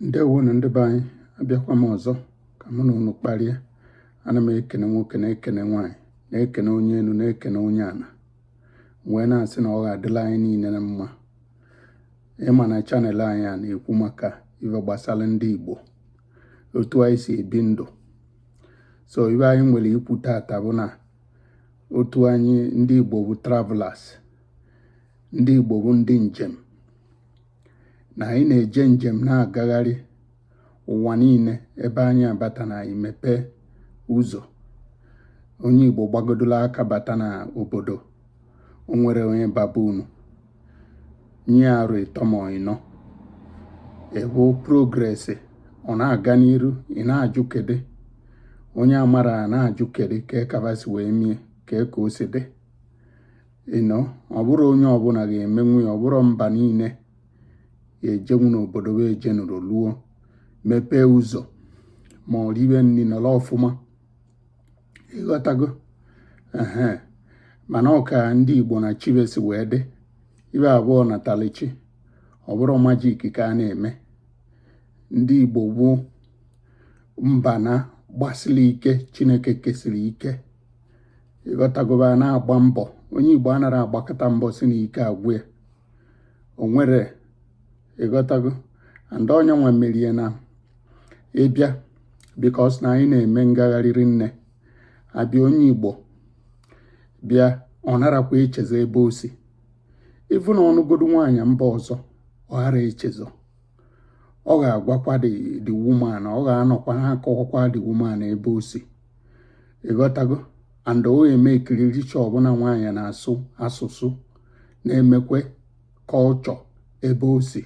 ndewonu ndị be anyị abịakwa m ọzọ ka mụ na unu kparịa ana m ekene nwoke na-ekene nwaanyị na-ekene onye enu na-ekene onye ana wee na-asị na ọ ga-adịlị anyị niile na mma ị ma na channel anyị a na-ekwu maka ife gbasara ndị Igbo otu anyị si ebi ndụ so ife anyị nwere ikwu tata bụ na otu anyị ndị Igbo bụ travelers ndị Igbo bụ ndị njem na anyị na-eje njem na-agagharị ụwa niile ebe anyị abata na anyị mepee ụzọ onye Igbo gbagodola aka bata na obodo o nwere onye baba unu nye arọ ịtọ ma ịnọ ị hụ progress ọ na-aga n'iru ị na-ajụ kedu onye amara na-ajụ kedu ka ka ba si wee mie ka e ka o si dị you know ọ bụrọ onye ọbụla ga-emenwu ya ọ bụrọ mba niile ejenwu n'obodo wee jenụrụ luo mepee ụzọ ma ọ riwe nri nọrọ ọfụma ịghọtago ee mana ọ ka ndị igbo na chi be si wee dị ife a bụ ọnatalụchi ọ bụrọ magic ka a na-eme ndị igbo bụ mba na gbasiri ike chineke kesiri ike ịghọtago ba na-agba mbọ onye igbo anara agbakata mbọ sị na ike agwụ ya o nwere ịghọtago and onye nwa merie na ị bịa because na anyị na-eme ngagharị rinne a bịa onye igbo bịa ọ narakwa echezọ ebe o si even ọ nụgodu nwaanyị mba ọzọ ọ ghara echezọ ọ ga-agwakwa the woman ọ ga-anọkwa na-akọwakwa the woman ebe o si ịghọtago and o eme ekiri richa ọbụla nwaanyị na-asụ asụsụ na-emekwe culture ebe o si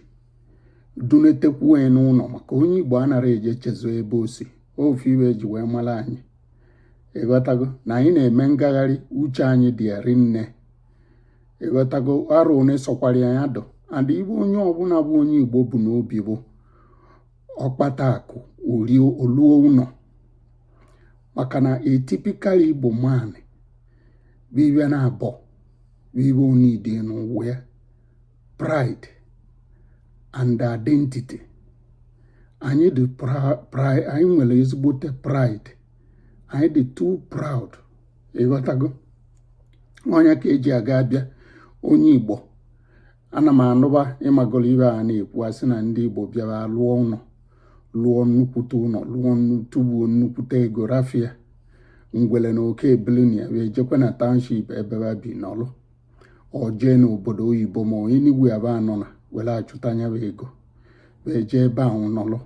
dunetekwu onye n'ụlọ maka onye igbo anara eje echezọ ebe o si ofu ife e ji wee mara anyị ịghọtago na anyị na-eme ngagharị uche anyị dị erinne ịghọtago arụ one sọkwara ya dụ and ife onye ọbụla bụ onye igbo bu n'obi bụ ọ kpata akụ o rie o luo ụlọ maka na a typical igbo man bụ ife naabọ bụ ife ọ needi n'ụwa ya pride and identity anyị dị pride anyị nwere ezigbote pride anyị dị too proud ịghọtago onye ka e ji aga a bịa onye igbo ana m anụba ịmagoro ibe a na-ekwu asị na ndị Igbo bịa ba alụọ ụnọ lụọ nnukwute ụnọ lụọ tubuo nnukwute ego rafụ ya ngwele na oke ebili na ya ba ejekwe na township ebe ba bi nọlụ ọ jee n'obodo oyibo ma onye n'ebe ba anọ na were achụta nyabụ ego ba ejee ebe ahụ nọlụ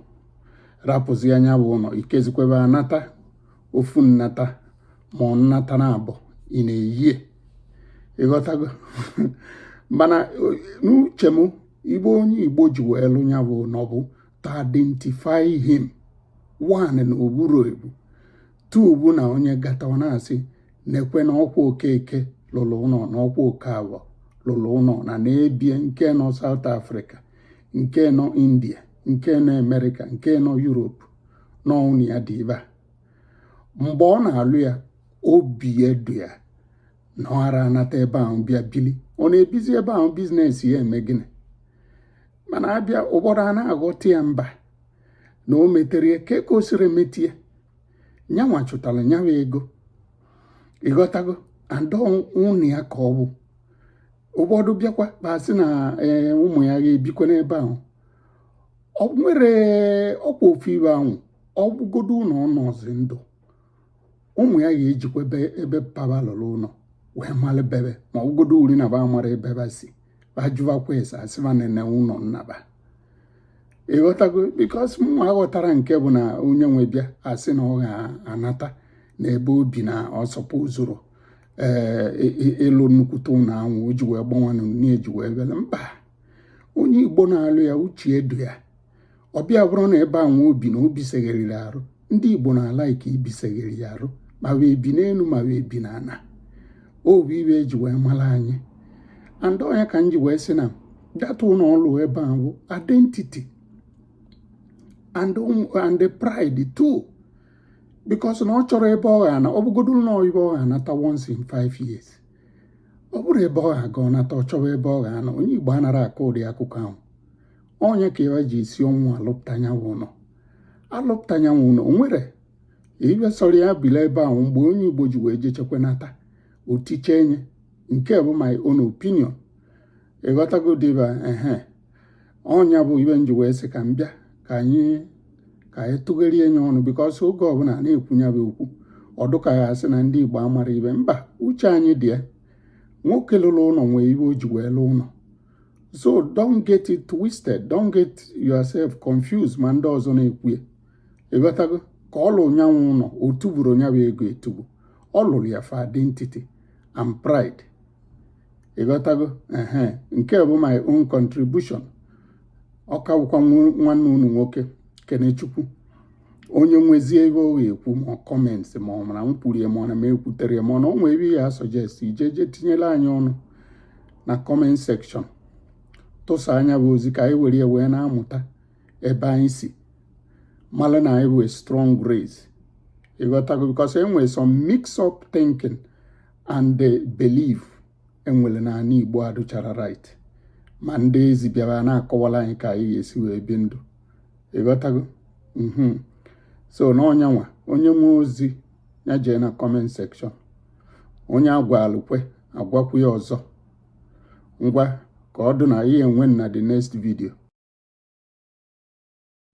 rapụzia nyabụ ụnọ ikezikwe ba anata ofu nnata ma ọ nnata naabọ in a year ịghọtago mana n'uche m ibe onye Igbo ji wee lụ ya bụ na ọ bụ to identify him one na o buru ebu two bụ na onye gatawa na-asị nekwe na ọkwa Okeke lụrụ ụnọ na ọkwa Okafọ lụrụ ụnọ na na-ebie nke nọ South Africa nke nọ India nke nọ America nke nọ Europe na ọ bụ ụnọ ya dị ebe a mgbe ọ na-alụ ya obi adụ ya na ọ ara anata ebe ahụ bịa bili ọ na-ebizi ebe ahụ business ya eme gịnị mana a bịa ụfọdụ a na-aghọta ya mba na o metere ya ka e o siri metie nyanwa chụtara nyabụ ego ịghọtago and ọ bụ ụnọ ya ka ọ bụ ụfọdụ bịakwa ba asị na eh, ụmụ ya ga-ebikwa n'ebe ahụ ọ nwere ọkwa ofu ibe anwụ ọ bụgodu na ọ nọzi ndụ ụmụ ya ga-ejikwa ebe papa lụrụ ụnọ wee mara be ba ma ọ bụgodu ọ bụrụ na ba amara ebe ba si ba jụbakwa ese a sị ba nene ụnọ nna ba ịghọtago because mụ aghọtara nke bụ na onye nwe bịa asị na ọ ga-anata na ebe o bi na ọsọpụ zụrụ ee ịlụ nnukwute ụnọ anwụ o ji wee gbanwanụ na-eji wee bịa mba onye Igbo na-alụ ya uche adụ ya ọ bịa bụrụ na ebe anwụ o bi na obi segheriri arụ ndị Igbo na-ala ike ibi segheri ya arụ ma ba ebi n'enu ma ba ebi n'ana ọ bụ ibe e ji wee mara anyị and ọ nya ka m ji wee sị na that ụnọ ọ lụ ebe a bụ identity and and pride too because na ọ chọrọ ebe ọ ga-ana ọ bụgodo ụnọ ebe ọ ga-anata once in five years ọ bụrụ ebe ọ ga-abụ ọ nata ọ chọwa ebe ọ ga-anọ onye Igbo anara akọ ụdị akụkọ anwụ ọ nya ka ba ji esi ọnwụ alụpụta nyanwụ ụnọ alụpụta nyanwụ ụnọ o nwere ibe sọrọ ya bili ebe anwụ mgbe onye Igbo ji wee jechakwa nata o tichaa nya nke a bụ my own opinion ịghọtago diva ehe ọ nya bụ ibe m ji wee sị ka m bịa ka anyị ka anyị tụgharịa nya ọnụ because oge ọbụla a na-ekwu nyabụ okwu ọ dụ ka ya asị na ndị Igbo amara ibe mba uche anyị dị ya nwoke lụrụ ụnọ nwee ibe o ji wee lụọ ụnọ so don't get it twisted don't get yourself confused ma ndị ọzọ na-ekwu ya ịghọtago ka ọ lụrụ nyanwụ ụnọ o tuburu nyabụ ego etubu ọ lụrụ ya for identity and pride ịghọtago ehe nke bụ my own contribution ọ ka wụkwa nwanne unu nwoke kenechukwu onye nwezie ebe ọ ga-ekwu ma comment ma ọ mara m kwurie ma ọ na m ekwutere ma ọ na ọ nwee ebe ya suggest ị jee tinyere anyị ọnụ na comment section tụsa ya bụ ozi ka anyị were ya wee na-amụta ebe anyị si mara na anyị bụ strong race ịghọtago because e nwere some mix up thinking and the belief e nwere na ana Igbo adụchara right ma ndị ezi bịara na-akọwara anyị ka anyị ga-esi wee bi ndụ ịghọtago mhm. so na ọ nya nwa onye nwe ozi ya jee na comment section onye a gwalụ kwe a gwakwu ya ọzọ ngwa ka ọ dụ na anyị hụ onwe na the next video